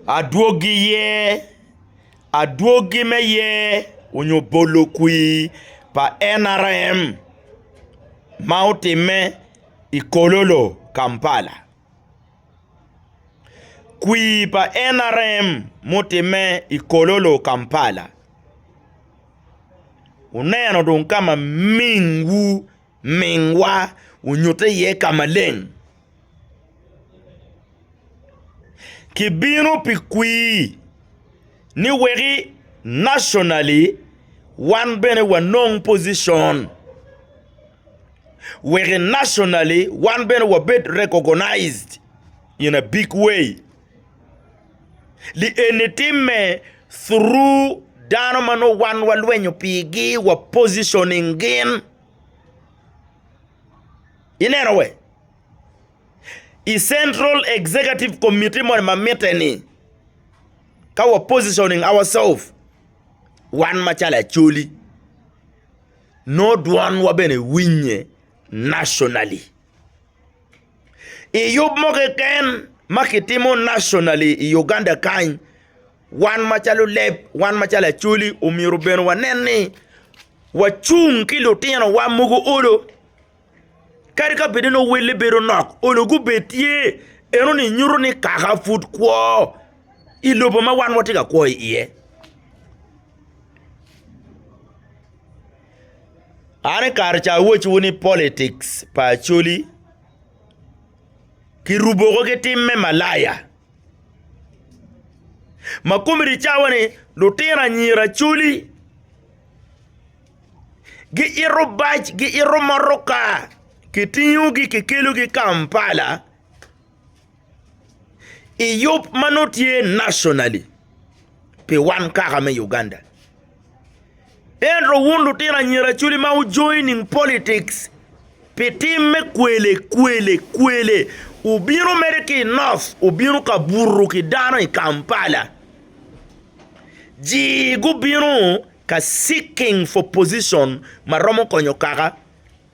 Adwogi ye, adwogi me ye onyo bolo kwi pa NRM ma otime i Kololo Kampala. Kwi pa NRM mutime i Kololo Kampala wuneno dong kama ming wu. Mingwa onyutte iye ka maleng. Kibino pi kwir ni weki nationally wan bene wanong position, weki nationally wan bene wabed recognized in a big way. Li eni timme through dano ma nongo wan walwenyo pigi wa positioning gin ineno wee I central executive committee moni ma mitte ni ka wa positioning ourselves wan macalo Acholi nongo dwonwa bene winye nationally. I yub mo keken ma kitimo nationally i Uganda kany wan macalo leb wan macalo Acholi omyero bene wanen ni wacung ki lutinowa mogo olo kadi ka bed ni owelle bedo nok olo gubed tye eno ni nyuto ni kaka pud kwo i lobo ma wan watye ka kwo iye. An i kare ca awocciwu ni politics pa Acholi kirubo woko ki tim me malaya ma komedi cawa ni lutino anyira Acholi giito bac giito motoka kitingo gi kikelogi Kampala. i yub ma nongo tye nationally pi wan kaka me Uganda. Ento wun lutino anyira acoli ma wu joining politics pi tim me kwele kwele kwele wubino mere ki i North wubino ka buto ki dano i Kampala ji gubino ka seeking for position ma romo konyo kaka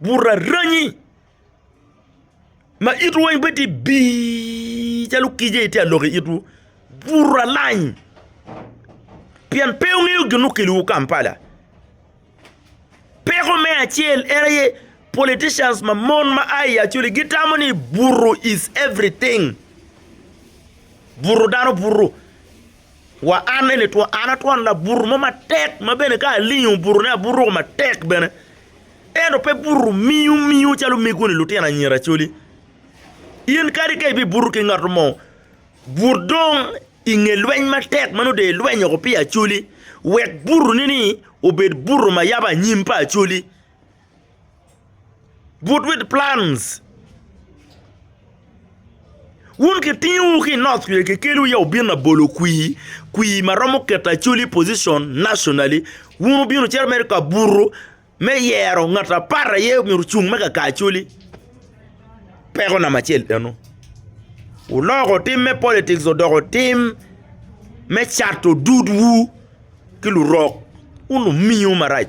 buto aranyi ma itwu weng bene tye bii calo kic aye tye ka lok i itwu buto alany pien pe wungeyo gin ma okeliwu Kampala peko me acel en aye politicians ma mon ma a i Acholi gitamo ni buto is everything buto dano buto. Wa an eni two, an a twon labuto mo matek ma bene ka alingo obutone abuto woko matek bene. Ento pe buto miu miu calo omegoni lutino anyira coli. In kadi ka ibibuto ki ngat mo, but dong i nge lweny matek ma nongo dong ilweny woko pi acoli wek butoni-ni obed buto ma yabo anyim pa acoli. But with plans. Wun kitingowu ki i North Kwica kikelowu ya wubin labolo kwir, kwir ma romo keto Acholi i position nationally. Wun wubino cito mere ka buto me yero ngat apar aye myero ocung me kaka Acholi. Peko namba acel eno. Wuloko tim me politics odoko tim me cato dudwu ki lurok. Wun lumiyo marac.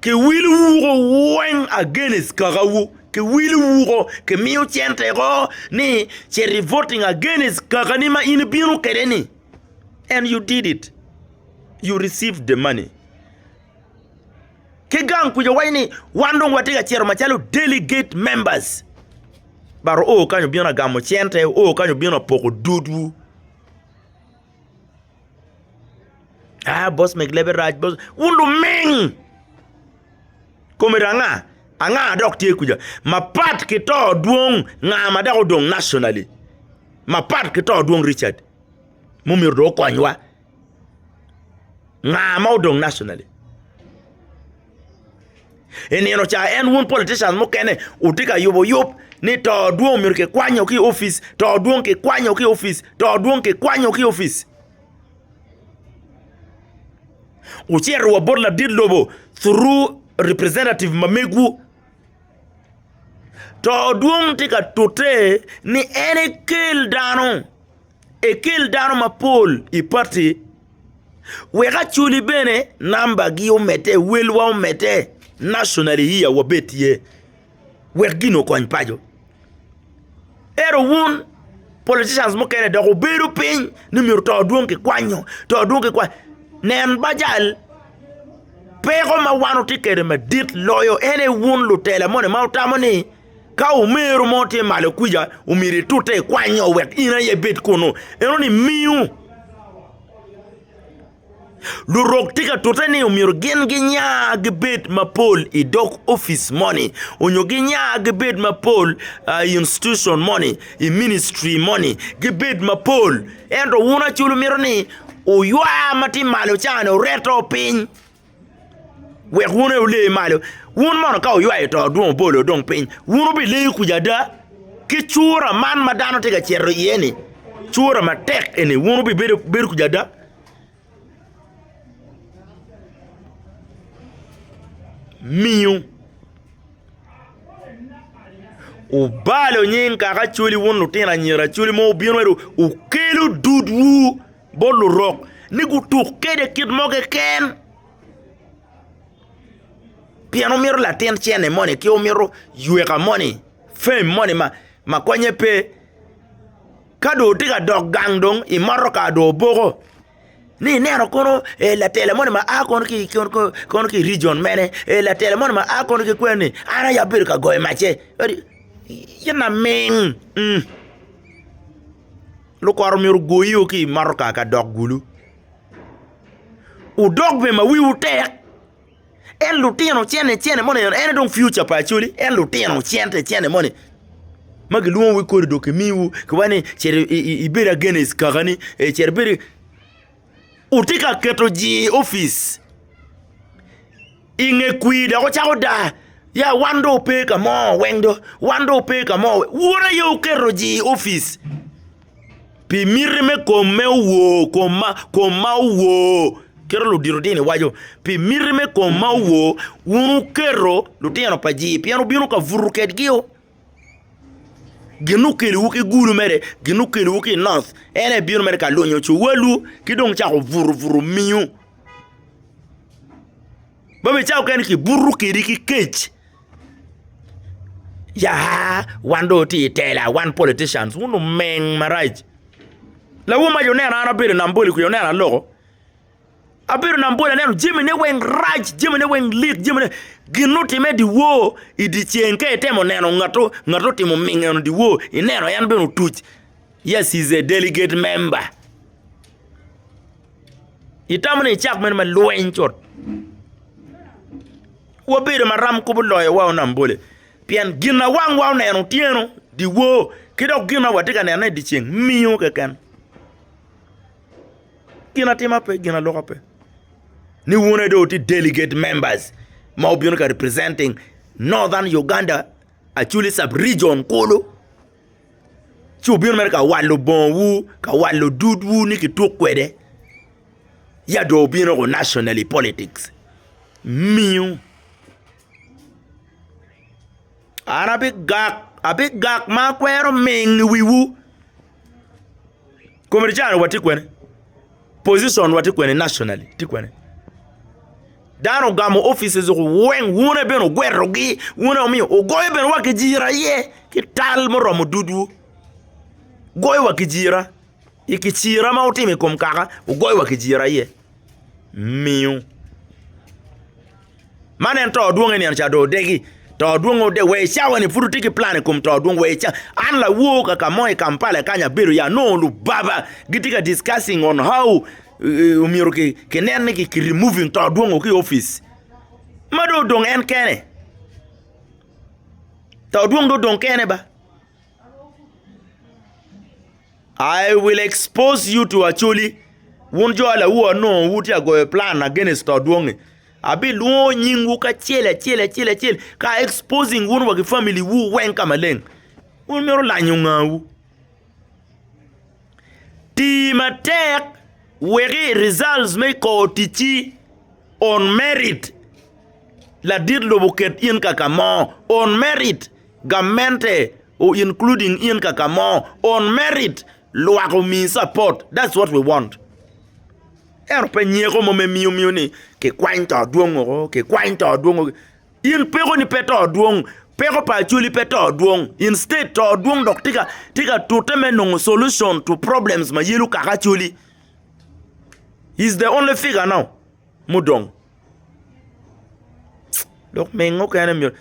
Kiwilo wuko weng against kakawu kiwilo wuko kimiyo cente woko ni cet i voting against kakani ma in ibino kwede ni and you did it you receive the money ki gang kuca waco ni wan dong watye ka cito macalo delegate members but oo kany obino agamo cente oo kany obino apoko dudwu. Ah boss meg lebe rac boss, wun luming! Kome ranga? Anga dok tye kuca? Mapat ki to dwong nga ma dok odong nationally? Mapat ki to dwong Richard ma omyero dong okonywa? Nga ma odong nationally? I nino ca en wun politicians mukene wutye ka yubo yub ni to dwong omyero kikwanyo ki i opic, to dwong kikwanyo ki i opic, to dwong kikwanyo ki i opic. Wucito wa bot ladit lobo through representative ma megwu, to dwong tye ka tute ni en ekel dano. Ekel dano mapol i pati wek aculi bene namba gi omede welwa omede nationally here wabed tye wek gin okony paco ento wun politicians mukene dok wubedo piny ni myero to dwong ki kwanyo to dwong ki kwanyo nen bajal peko ma wan watye kwede madit loyo en aye wun lutela moni ma wutamo ni Ka omero mo tye malo kwica, omyero itute i kwanyo wek in aye ibed kunnu. Eno ni miu. Lurok tye ka tute ni omyero gin ginya gibed mapol i dog opic moni onyo ginya gibed mapol i institution moni, i ministry moni, gibed mapol. Ento wun aco wumito ni oywa ma tye malo ca-ni oreto piny. wek wun aye wule malo. Wun mono ka wuywayo to dong obolo dong piny, wun wubileyo kuca ada? Ki cura man ma dano tye ka cito iye-ni, cura matek eni, wun wubibedo kuca ada? Miyo wubalo nying Kaka Acwali wun lutino anyira Acwali ma wubino ento wukelo dudwu. bot lurok ni gutuk kwede kit mo keken pien omito latin cene moni ki omito yweka moni, fame moni ma konye pe ka dong otye ka dok gang dong i motoka dong oboko ni ineno kunu latela moni ma a kono ki i rijion mene latela moni ma a kono ki kweni an aye abedo ka goyo macce kadi in laming. Lukoro myero ogoyiwu ki i motoka ka dok gulu. Wudok bene ma wiwu tek. En lutino cene cene moni en aye dong future pa Acholi en lutino cente cene moni ma gilwongo wu kodi dong kimiwu kikoba ni cit ibed against kakani cit ibed otye ka keto jii i opic i nge kwir dok ocako dar ya wan dong wape ka mo weng dong wan dong wape ka mo weng wun aye wuketo jii i opic pi miti me kom ma owor kom ma owor kit ma ludito dini waco pi miti me kom ma owor wun wuketo lutino pa jii pien wubino ka buto kwedgi o. Gin ma okelowu ki gulu mere, gin ma okelowu ki i North, en aye bino mere ka lunyo cuwalwu ki dong cako burubutu omiu. Ma bene cawa mukene kibuto kwedi ki kec, ya wan dong watye i tela, wan politicians, wun lumeng marac. Lawu mac oneno an abedo i Nambole kwica oneno aloko. Abedo nam bol aneno jami ne weng rac jami ne weng lik jami ne gin ma otime i dyewor i dyeceng ka itemo neno ngat ma otimo minge i dyewor ineno en bene otuc yes he is a delegate member itamo ni icak meno ma lweny cut wabedo maram kop oloyo wa nam bole pien gin ma wang wa oneno otyeno dyewor ki dok gin ma watye ka neno dyeceng mingo keken. gin atima pe gin aloka pe ni wun aye dong wutye delegate members ma wubino ka representing northern Uganda actually sub region kulu ci wubino mere ka walo bongowu ka walo dudwu ni kituk kwede ya dong wubino nationally politics minu. An abigak, abigak ma akwero ming i wiwu. Kome tye calo watye kwene, position watye kwene nationally tye kwene. Dano ogamo offices oko weng, wuno aye bene wugwerogi, wuno aye omiyo wugoyo bene wa kijira iye ki tal muromo dudwu. Wugoyo wa kijira, i kicira ma wutimo i kom kaka, wugoyo wa kijira iye. miyo. Man en to dwong eni eno ca dong odegi to dwong odegi wa i cawa ni pud watye ki plan i kom to dwong wa i cawa an lawor kaka mo i Kampala kany abedo ya nongo lubaba gitye ka discussing on how myero ki nen ni ki removing to dwong o ki i opic ma dong odong en kene to dwong dong odong kene ba. I will expose you to Acholi, wun jo alawu anongo wutye ka goyo plan against to dwongi. Abilwongo nyingwu kacel acel acel acel ka a exposing wun wa ki family wu weng ka maleng. Wun mito lanyo ngawu? Ti matek weki i results me i kor ticci on merit. Ladit lobo ket in kaka mo on merit. Gamente, u including in kaka mo, on merit lwak omi support, that's what we want. Ento pe nyeko mo me miyo miyo ni ki kwany to dwong oko, ki kwany to dwong oko. In peko ni pe to dwong, peko pa Acholi pe to dwong. Instead to dwong dok tye ka tye ka tute me nongo solution to problems ma yelo kaka Acholi. He's the only figure now. mudong. Lok mege mukene myero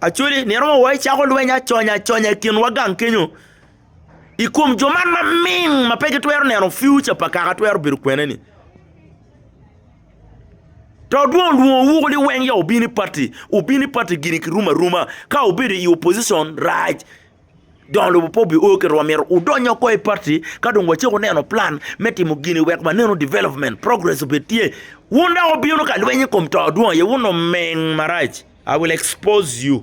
actually iromo wa icako lweny aconya aconya i kinwa gang kenyo i kom jo man ma ming ma pe gitwero neno future pa kaka twero bedo kwene ni to dong olwongowu ni weng ya wubin i party, wubin i party gini kirumo aruma ka wubedo i opposition rac. Jo lubo pe obi oo ki rwom myero wudony woko i party ka dong wacako wuneno plan me timo gini wek wanenu development, progress obed tye. Wun dok wubino ka lweny i kom to dwong aye, wun omeng marac, I will expose you.